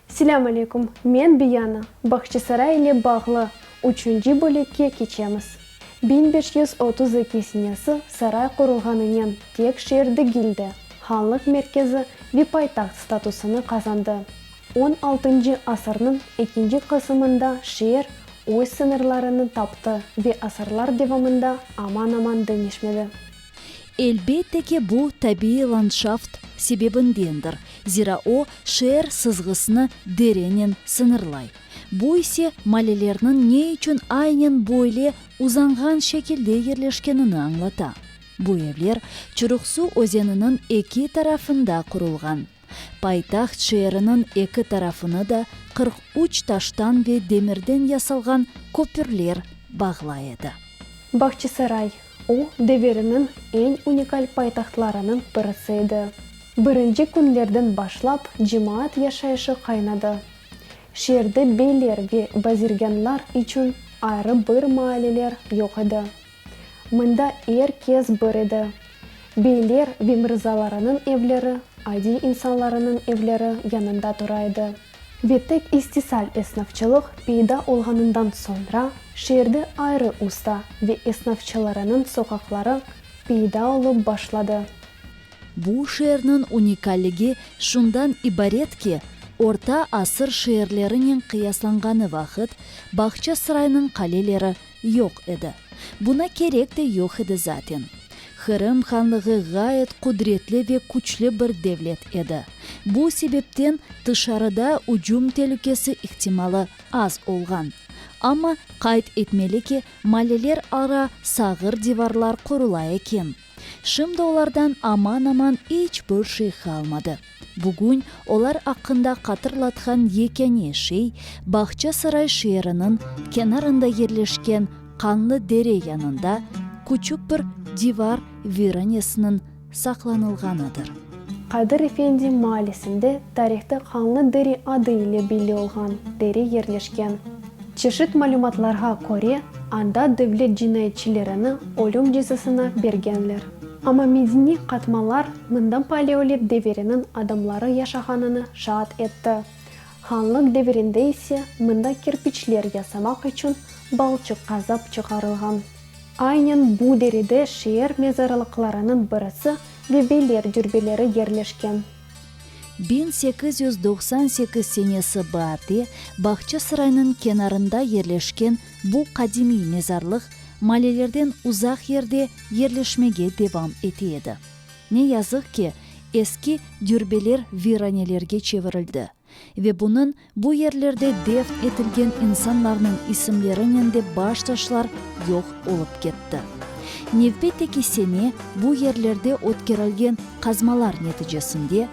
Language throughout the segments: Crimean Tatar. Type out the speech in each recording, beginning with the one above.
Selâm aleykum, men Biyana, Bağçasaray ile bağlı üçünci bölekke keçemiz. Biñ beş yüz otuz eki senesi saray qurulğanınen tek şeer degildi, hanlıq merkezi ve paytaht statusını qazandı. On altıncı asırnıñ ekinci qısımında şeer öz sıñırlarını taptı ve asırlar devamında aman-aman deñişmedi. Elbette ki, bu tabiiy landşaft sebebindendir, zira o, şeer sızğısını derennen sıñırlay. Bu ise, malelerniñ ne içün aynen böyle uzanğan şekilde yerleşkenini añlata. Bu evler Çuruqsu özeniniñ eki tarafında qurulğan. Paytaht şeeriniñ eki tarafını da qırq üç taştan ve demirden yasalğan köpürler bağlay edi. Bağçasaray, o deviriniñ eñ unikal paytahtlarınıñ birisi edi. Birinci künlerden başlap cemaat yaşayışı qaynadı. Şeerde beyler ve bazirgânlar içün ayrı bir maaleler yoq edi. Mında er kes bir edi. Beyler ve mırzalarınıñ evleri adiy insanlarınıñ evleri yanında tura edi. Ve tek istisal esnafçılıq peyda olğanından soñra şeerde ayrı usta ve esnafçılarınıñ soqaqları peyda olıp başladı. Bu şeerniñ unikalligi şundan ibaret ki, orta asır şeerlerinen qıyaslanğanı vaqıt Bağçasıraynıñ qaleleri Yoq edi. Buna kerek de yoq edi zaten. Qırım Hanlığı ğayet qudretli ve küçlü bir devlet edi. Bu sebepten tışarıda ücüm telükesi ihtimalı az olğan. Amma qayd etmeli ki, maleler ara sağır divarlar qurula eken. Şimdi olardan aman-aman iç bir şey qalmadı. Bugün olar aqqında qatırlatqan yekâne şey, Bağçasaray şeeriniñ kenarında yerleşken qanlı dere yanında küçük bir divar viranesiniñ saqlanılğanıdır. Qadir efendi maalesinde tarihte Qanlı deri adı ile belli olğan dere yerleşken. Çeşit malümatlarğa köre, anda devlet cinayetçilerini ölüm cezasına bergenler. Amma medeniy qatmalar mında paleolit deviriniñ adamları yaşağanını şaat etti. Hanlıq devirinde ise mında kerpiçler yasamaq içün balçıq qazap çıqarılğan. Aynen bu derede şeer mezarlıqlarınıñ birisi ve beyler dürbeleri yerleşken. Biñ sekiz yüz doqsan sekiz senesi baarde Bağçasaraynıñ kenarında yerleşken bu qadimiy mezarlıq malelerden uzaq yerde yerleşmege devam ete edi. Ne yazıq ki, eski dürbeler viranelerge çevirildi ve bunıñ Bu yerlerde defn etilgen insanlarnıñ isimlerinen de baş taşlar yoq olıp ketti. Nevbette ki, sene bu yerlerde ötkerilgen qazmalar neticesinde,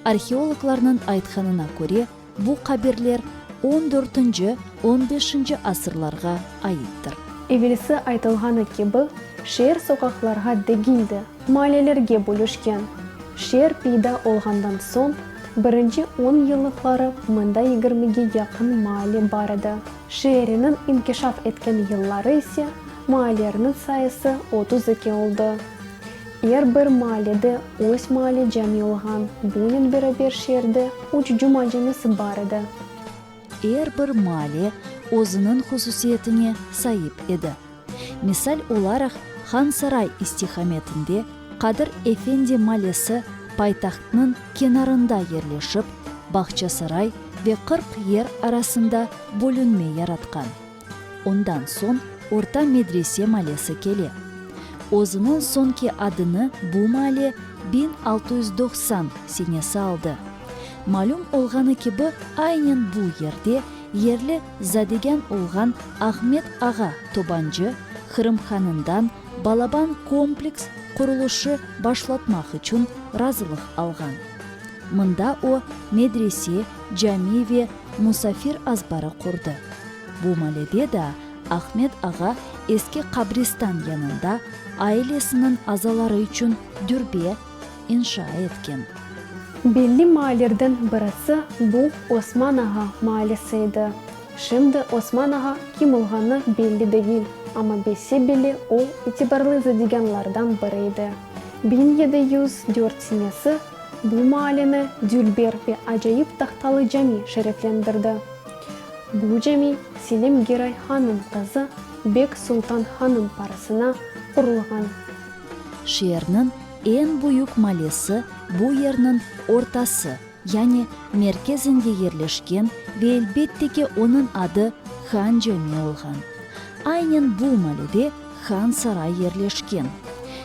arheologlarnıñ aytqanına köre, bu qabirler on dörtünci, on beşinci asırlarğa aittir. Evelsi aytılğanı kibi, şeer soqaqlarğa degil de, Maliyelerge bölüşken. Şeer peyda olğandan soñ birinci on yıllıqları mında yigirmige yaqın maale bar edi. Şeeriniñ inkişaf etken yılları ise maaleerniñ sayısı otuz eki oldı. Er bir maalede öz maale cami olğan. Bunen beraber şeerde üç cuma camisi bar edi. Er bir maale özüniñ hususiyetine saip edi. Misal olaraq, Han Saray istiqametinde Qadir Efendi Malesi paytahtnıñ kenarında yerleşip, Bağça Saray ve Qırq Yer arasında bölünme yaratqan. Ondan soñ Orta Medrese Malesi kele. Özüniñ soñki adını bu male biñ altı yüz doqsan senesi aldı. Malüm olğanı kibi, aynen bu yerde yerli Zadegen olğan Ahmet ağa Tobancı Qırım hanından balaban kompleks qurulışı başlatmaq içün razılıq alğan. Mında o, medrese, cami ve musafir azbarı qurdı. Bu malede daa Ahmet ağa eski qabristan yanında ailesiniñ azaları içün dürbe, inşa etken. Belli maallerden birisi bu Osman Ağa maalesi edi. Şimdi Osman Ağa kim olğanı belli degil, amma bilse bile o, itibarlı zadegânlardan biri edi. Biñ yedi yüz dört senesi bu maaleni dülber ve acayip tahtalı cami şereflendirdi. Bu cami Selim Giray Hanım qızı Bek Sultan Hanım parasına qurulğan. Şeerniñ eñ büyük malesi bu yerniñ ortası, yani merkezinde yerleşken ve elbette ki, onıñ adı Han Cami olğan. Aynen bu malede Han Saray yerleşken.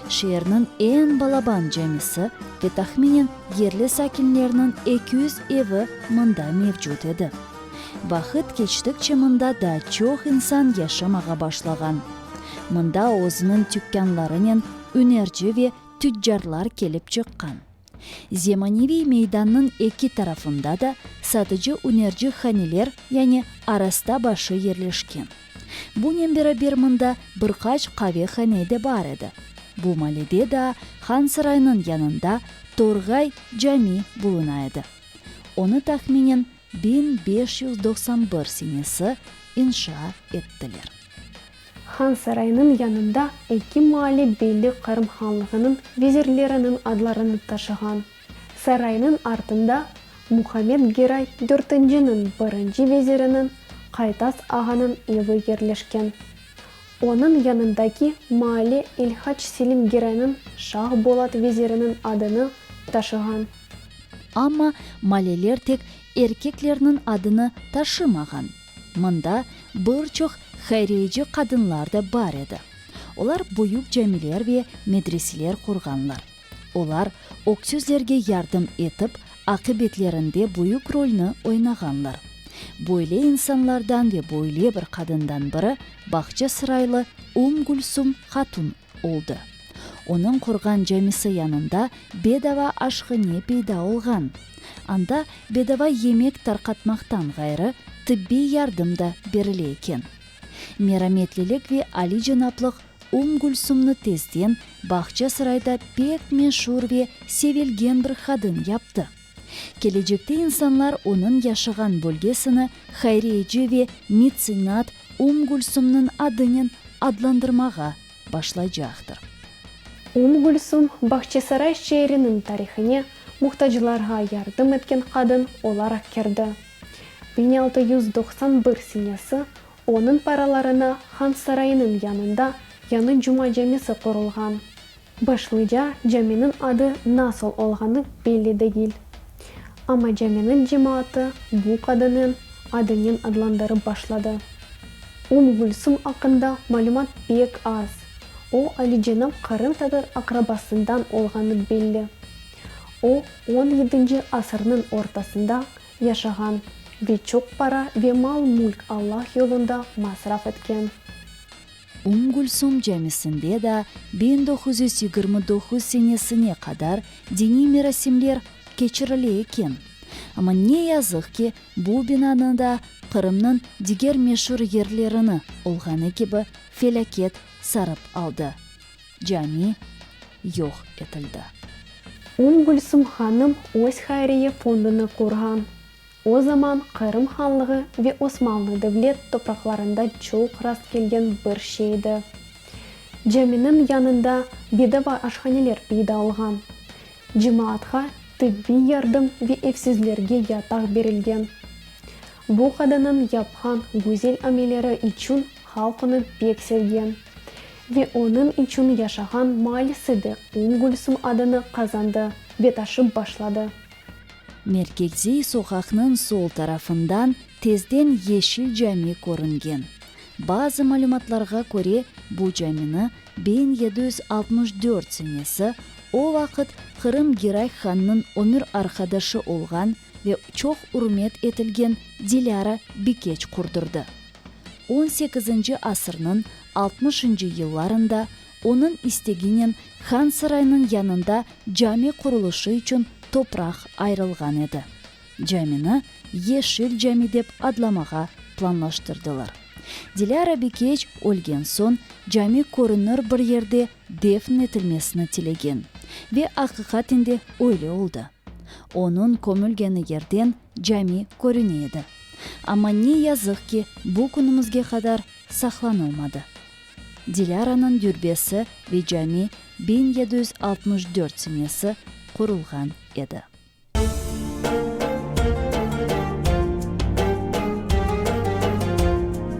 Şeerniñ eñ balaban camisi ve tahminen yerli sakinlerniñ eki yüz evi mında mevcut edi. Vaqıt keçtikçe mında daa çoq insan yaşamağa başlağan. Mında özüniñ tükânlarınen ünerci ve tüccarlar kelip çıqqan. Zemaneviy meydannıñ eki tarafında da satıcı-ünerci haneler, yani arasta başı yerleşken. Bunen beraber mında bir qaç qavehane de bar edi. Bu malede daa Han saraynıñ yanında Torğay cami buluna edi. Onı tahminen Biñ beş yüz doqsan bir senesi inşa ettiler. Han Saraynıñ yanında eki maali belli Qırım Hanlığınıñ vezirleriniñ adlarını taşığan. Saraynıñ artında Muhammed Geray dörtinciniñ birinci veziriniñ Qaytas ağanıñ evi yerleşken. Onıñ yanındaki maali İlhac Selim Geraynıñ Şah Bolat veziriniñ adını taşığan. Amma maleler tek erkeklerniñ adını taşımağan. Mında bir çoq hayriyeci qadınlar da bar edi. Olar büyük camiler ve medreseler qurğanlar. Olar öksüzlerge yardım etip, aqibetlerinde büyük rolni oynağanlar. Böyle insanlardan ve böyle bir qadından biri Bağçasıraylı Ümm Gülsüm hatun oldı. Onıñ qurğan camisi yanında bedava aşhane peyda olğan. Anda bedava yemek tarqatmaqtan ğayrı, tibbiy yardım da berile eken. Merametlilik ve alicenaplıq Ümm Gülsümni tezden Bağçasarayda pek meşur ve sevilgen bir hadım yaptı. Kelecekte insanlar onıñ yaşağan bölgesini Hayriyeci ve Mitsinat Ümm Gülsümniñ adınen adlandırmağa başlaycaqtır. Ümm Gülsüm, Bağçasaray şeeriniñ tarihine muhtaclarğa yardım etken qadın olaraq kirdi. Biñ altı yüz doqsan bir senesi Onıñ paralarına Han sarayınıñ yanında yañı Cuma camisi qurulğan. Başlıca caminiñ adı nasıl olğanı belli degil. Amma caminiñ cemaatı bu qadınıñ adınen adlandırıp başladı. Ümm Gülsüm aqqında malümat pek az. O, alicenap qırımtatar aqrabasından olğanı belli. O, on yedinci asırnıñ ortasında yaşağan ve çoq para ve mal-mülk Allah yolunda masraf etken. Ümm Gülsüm Camisinde da biñ doquz yüz yigirmi doquz senesine qadar diniy merasimler keçirile eken. Amma ne yazıq ki, bu binanı da Qırımnıñ diger meşur yerlerini olğanı kibi felâket sarıp aldı. Cami yoq etildi. Ümm Gülsüm hanım öz hayriye fondunı qurğan. O zaman Qırım Hanlığı ve Osmanlı devlet topraqlarında çoq rast kelgen bir şeydi. Caminiñ yanında bedava aşhaneler peyda olğan. Cemaatqa tibbiy yardım ve evsizlerge yataq berilgen. Bu qadınıñ yapqan güzel ameleri içün Halq onı pek sevgen ve onıñ içün yaşağan maallesi de Ümm Gülsüm adını qazandı ve taşıp başladı. Merkeziy soqaqnıñ sol tarafından tezden Yeşil cami körüngen. Bazı malümatlarğa köre, bu camini biñ yedi yüz altmış dört senesi, o vaqıt Qırım Giray hannıñ ömür arqadaşı olğan, ve çoq ürmet etilgen Dilâra Bikeç qurdurdı. On sekizinci asırnıñ altmışıncı yıllarında onıñ isteginen Han Saraynıñ yanında cami qurulışı içün topraq ayırılğan edi. Camini Yeşil cami dep adlamağa planlaştırdılar. Dilâra Bikeç ölgen soñ cami körünür bir yerde defn etilmesini tilegen ve aqiqaten de öyle oldı. Onıñ kömülgeni yerden cami körüne edi. Amma ne yazıq ki, bu künümizge qadar saqlanılmadı. Dilâranıñ dürbesi ve cami biñ yedi yüz altmış dört senesi qurulğan edi.